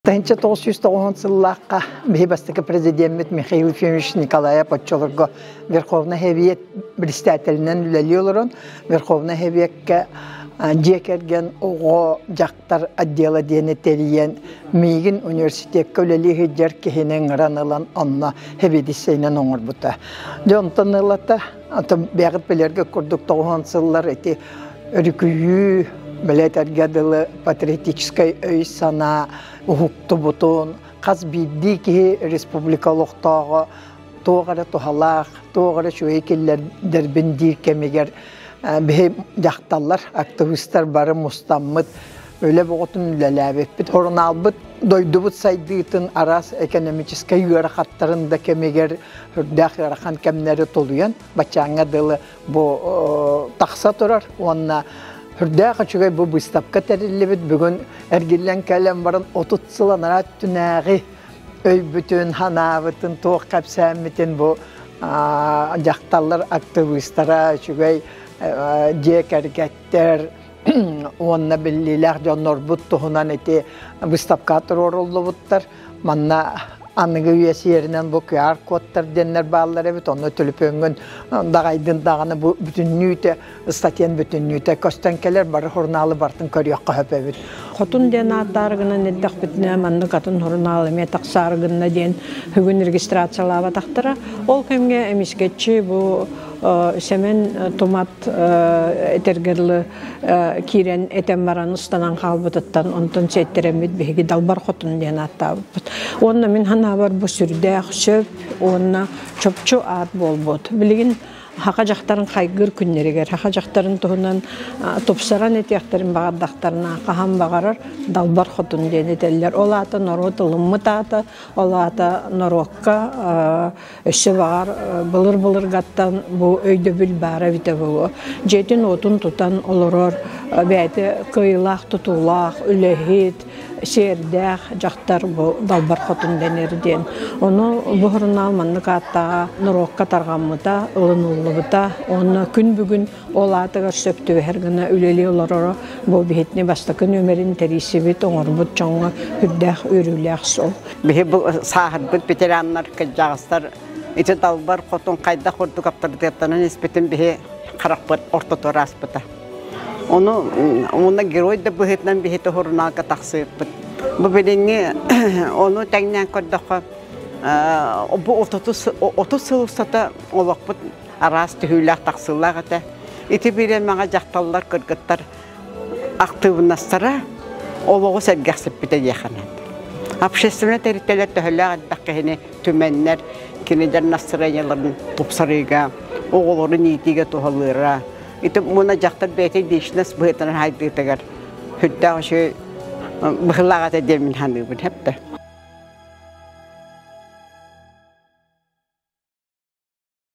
Таһынча тоғыз жүз тоғызын сыллаахха биһи бастакы президеммит Михаил Ефимович Николаев оччолорго Верховный Хевиет председателинэн үлэлии олорон Верховный Хевиекке дьиэ кэргэн оҕо дьахтар отдела диэни тэрийэн миигин университекка үлэлии сылдьар киһини ыҥыран ылан онно хевидиссейинэн оҥорбута. Дьэ онтон ылата Атым бэҕит билэргэ курдук тоҕуһан сыллар ити өрүкүйүү, бэлэтэргэ дылы патриотическай өй-санаа, уһуктубутун, хас биирдии киһи республика олохтооҕо туох эрэ туһалаах, туох эрэ үчүгэй киллэрдэрбин диир кэмигэр биһи дьахталлар, активистар бары мустаммыт Үлэ бөҕөтүн үлэлээбиппит. Хорунаалбыт дойдубут сайдыытын араас экономическай ыарахаттарын да кэмигэр үрдээх ыарахан кэмнэри толуйан баччааҥҥа дылы бу тахса турар уонна үрдээх үчүгэй бу быыстапка тэриллибит бүгүн эргиллэн кэлэн баран 30 сыл анараа өттүнээҕи өйбүтүн, санаабытын, туох кэпсээммитин бу дьахталлар актыбыыстара, үчүгэй дьиэ кэргэттэр, уонна биллиилээх дьоннорбут туһунан ити выставка туруоруллубуттар. Манна аныгы үйэ сиэринэн бу QR-кодтар диэннэр бааллар эбит. Онно төлөпүөҥҥүн даҕайдын даҕаны бу бүтүннүүтэ статьян бүтүннүүтэ көстөн кэлэр бары сурунаалы бартын көрүөххэ сөп эбит. Хотун диэн ааттаары гынан эрдэхпитинэ маннык атын сурунаал эмиэ тахсаары гынна диэн бүгүн регистрациялаабатахтара. Ол кэмҥэ эмискэччи бу Сэмэн Тумат этэргэр лы киирэн этэн баран устанан хаалбытыттан онтон сиэттэрэммит биһиги далбар хотун диэн ааттаабыппыт. Уонна мин ханаабар бу сүрдээх сөп уонна чопчу аат буолбут. Билигин хака дьахтарын хайгыр күннэригэр хака дьахтарын туһунан тупсаран этиэхтэрин баҕардахтарына хаһан баҕарар далбар хотун диэн этэллэр ол аата норуот ылыммыт аата ол аата норуокка Өссө баҕар былыр-былыргаттан бу өйдөбүл баара эбитэ буолуо. Дьиэтин-уотун тутан олорор бэйэтэ кыайыылаах тутуулаах, үлэһит, сиэрдээх дьахтар бу Далбар Хотун дэнэр диэн. Ону бу сурунаал маннык ааттааҕа норуокка тарҕаммыта, ылыныллыбыта уонна күн бүгүн Ол аатыгар сөп түбэһэр гына үлэлии олороро бу биһитини бастакы нүмерин тэрийсибит, оҥорбут дьоҥҥо үрдээх үөрүүлээх сол. Биһи бу сааһырбыт ветераннар, кырдьаҕастар ити далбар хотун хайдах курдук аптардытыаттанан испитин биһи харахпыт ортоту ааспыта. Ону уна герой да быһыытынан биһи тоһурунаалга тахсыырпыт. Бу билиҥҥи ону тэҥнээн көрдөххө бу 30 сыл устата олохпут араас түһүүлээх-тахсыылаах этэ. Ити биирэн маҥа дьахталлар, кыргыттар актыыбынастара олоҕу сэргэхсиппитэ диэхэнэн. Общественнай тэрилтэлэр төһөлөөх элбэх киһини түмэннэр, кинилэр настроенияларын тупсарыыга, оҕолорун иитиигэ туһалыыра. Ити муна дьахтар бэйэтэ личность быһыытынан хайдыытыгар сүрдээх үчүгэй быһылаах этэ диэн мин саныыбын хэптэ.